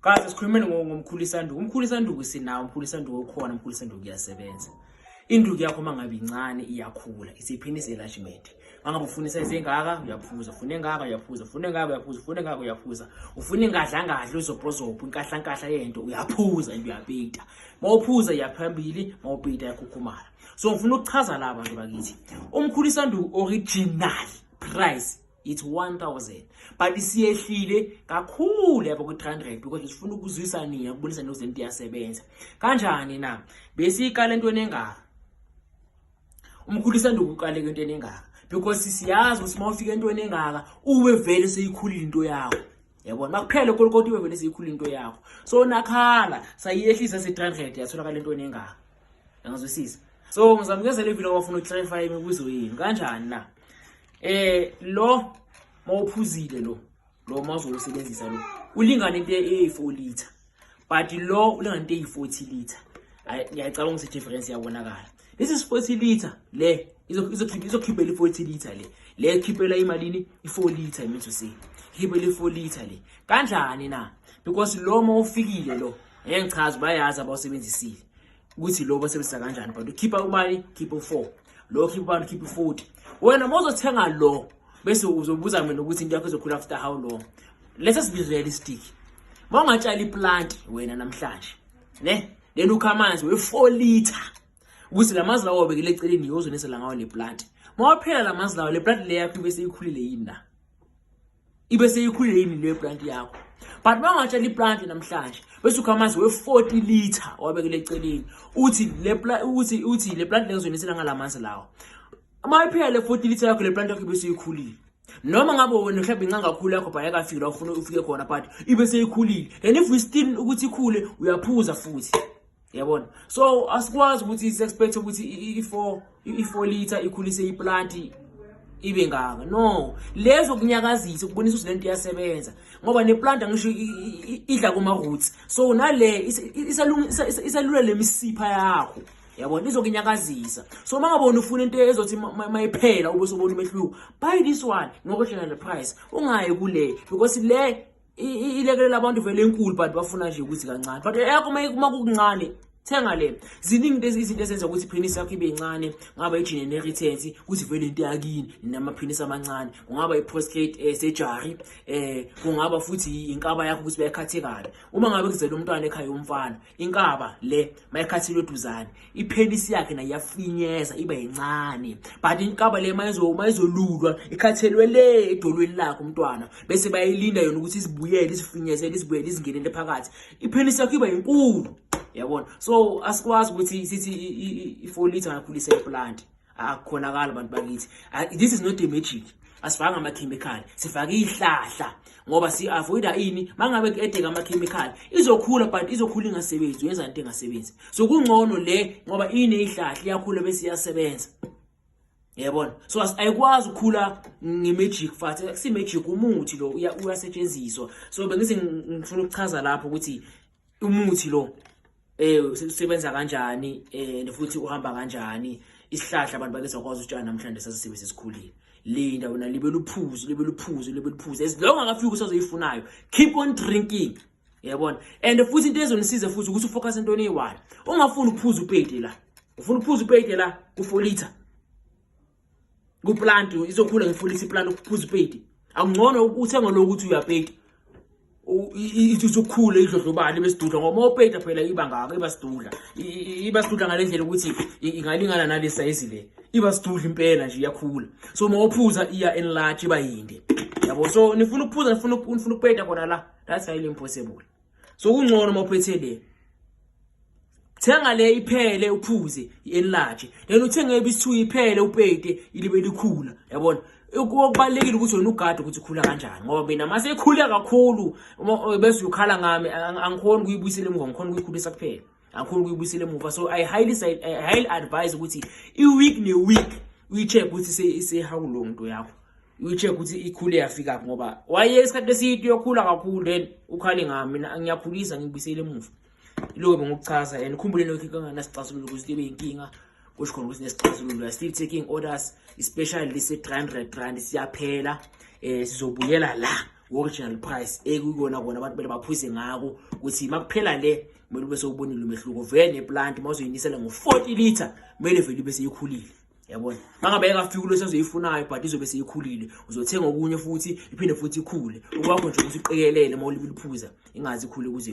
Guys sikhulumeni ngomkhulu isanduku. Umkhulu isanduku sinawo, umkhulu isanduku okhona, umkhulu isanduku uyasebenza. Induku yakho mangabe incane iyakhula, isiphini selashimete. Mangabe ufuna isize engaka uyaphuza, ufuna engaka uyaphuza, ufuna engaka uyaphuza, ufuna engaka uyaphuza. Ufuna ingadla ngadla uzobhozopha inkahla nkahla yento uyaphuza into uyapita. Mawuphuza iyaphambili, mawupita yakhukhumala. So ngifuna ukuchaza laba nje bakithi. Umkhulu isanduku original price it's 1000 but isiyehlile kakhulu yabo ku-300 because sifuna ukuzwisa nina kubonisa nokuthi lento iyasebenza kanjani na besiyiqala entweni engaka umkhulu isanda ukuqaleka entweni engaka because siyazi ukuthi uma ufika entweni engaka uwe vele seyikhulile into yakho yabona makuphele kolokoti uwe vele seyikhulile into yakho so nakhala sayiyehlisa se-300 yatholakala entweni engaka Ngazwisisa. So ngizamkezela ivini wafuna uclarify imibuzo yini kanjani na? Eh lo mawuphuzile lo lo mawuzowusebenzisa lo ulingana into eyi-4 liter but lo ulingana into eyi-40 liter ngiyacabanga ukuthi difference yabonakala lesi si-40 liter le izokhiphela i-40 liter le le ikhiphela imalini i-4 liter imithu se ikhiphela i-4 liter le kanjani na because lo ma ufikile lo ngeke ngichaze bayazi abawusebenzisile ukuthi lo basebenzisa kanjani but ukhipha ubani khipha u4 lo khipha ubani khipha u40 wena mozothenga lo bese uzobuza mina ukuthi into yakho izokhula after how long let's just be realistic mawungatshala iplant wena namhlanje ne then ukha amanzi we4 liter ukuthi lamazi lawo obekele eceleni yozonisa la ngawo le plant mawaphela lamazi lawo le plant le yakho bese ikhulile yini na ibe seyikhulile yini le brand yakho but bangatshela ibrand namhlanje bese ukha amanzi we-40 litre wabekele eceleni uthi le uthi uthi le brand lengizonisela ngala manzi lawo uma iphela le 40 litre yakho le brand yakho ibe seyikhulile noma ngabe wena mhlawumbe inca kakhulu yakho bhaya kafiki la ufuna ufike khona but ibe seyikhulile and if we still ukuthi ikhule uyaphuza futhi yabona so asikwazi ukuthi sexpect ukuthi i4 i4 liter ikhulise iplant ibe ngaka no lezo kunyakazisa ukubonisa ukuthi lento iyasebenza ngoba neplant angisho idla kuma roots so nale isalula lemisipha yakho yabona izokunyakazisa so uma ngabona ufuna into ezothi mayiphela ube sobona umehluko buy this one ngokwehlela le price ungayi kule because le ilekelela abantu vele enkulu but bafuna nje ukuthi kancane but eyakho uma kukuncane thenga le ziningi lezi izinto ezenza ukuthi penis yakho ibe incane ngaba ijine nerithensi ukuthi vele into yakini namapenis amancane kungaba i-prostate eh, surgery eh kungaba futhi inkaba yakho ukuthi bayakhathekala uma ngabe kuzela umntwana ekhaya umfana inkaba le mayekhathilwe eduzane iphenisi yakhe nayo yafinyeza iba yincane but inkaba le mayezolulwa ikhathelwe le edolweni lakhe umntwana bese bayilinda yona ukuthi izibuyele izifinyezele izibuyele izingenele phakathi iphenisi yakho iba yinkulu yabona so asikwazi ukuthi sithi i-four litre ngakhulisa iplanti akukhonakala bantu bakithi this is not a magic asifanga amakhemikhali sifake ihlahla ngoba si-avoida ini mangabe ku-edeka amakhemikhali izokhula but izokhula ingasebenzi yenza into engasebenzi so kungcono le ngoba ineyihlahla iyakhula bese iyasebenza yebona so ayikwazi ukukhula nge-magic fathi si-magic umuthi lo uyasetshenziswa so bengithi ngifuna ukuchaza lapho ukuthi umuthi lo eh usebenza kanjani eh futhi uhamba kanjani isihlahla abantu bake sakwazi utshana namhlanje sasisibe sesikhulile linda wena libe luphuzo libe luphuzo libe luphuzo as long akafika usazoyifunayo keep on drinking yabona and futhi into ezonisiza futhi ukuthi ufocus entweni eyi-one ungafuni ukuphuza upeyide la ufuna ukuphuza upeyide la kufolitha kuplant izokhula ngefulisi iplant ukuphuza ipedi akungcono uthenge lokho ukuthi uyapedi ithi usukhule idlodlobane besidudla ngoba uma upeda phela iba ngako iba sidudla iba sidudla ngale ndlela ukuthi ingalingana nale sayizi le iba sidudla impela nje iyakhula so uma uphuza iya enlarge iba yinde yabo so nifuna ukuphuza nifuna ukupeda khona la that's highly impossible so kungcono uma uphethe le thenga le iphele uphuze i-enlarge then uthenge ebisi-two iphele upete ilibe likhula yabona okubalulekile ukuthi wena ugade ukuthi ukhula kanjani ngoba mina uma sekhule kakhulu eh, bese uyokhala ngami angikhoni ukuyibuyisela emuva ngikhona ukuyikhulisa kuphela angikhoni ukuyibuyisela emuva so i highly, I highly advise ukuthi i-week ne-week uyi-check ukuthi sehawulo nto yakho uyicheck ukuthi ikhule yafika phi ngoba waye isikhathi eside uyokhula kakhulu then ukhale ngami mina ngiyakhulisa ngibisele emuva iloko bengukuchaza and ukhumbule lokho kanganasixazululo ukuthi libe inkinga kusho khona ukuthi nesixazululo are still taking orders especially lise 300 rand siyaphela eh sizobuyela la original price ekuyona kona abantu bele baphuze ngako ukuthi makuphela le kumele ube sewubonile umehluko vele neplant mawuzoyinisela ngo 40 liter kumele vele ube seyikhulile yabona mangabe engafiki kulo senzoyifunayo but izobe seyikhulile uzothenga okunye futhi iphinde futhi ikhule okwakho nje ukuthi uqikelele uma uliphuza ingazi ikhule kuze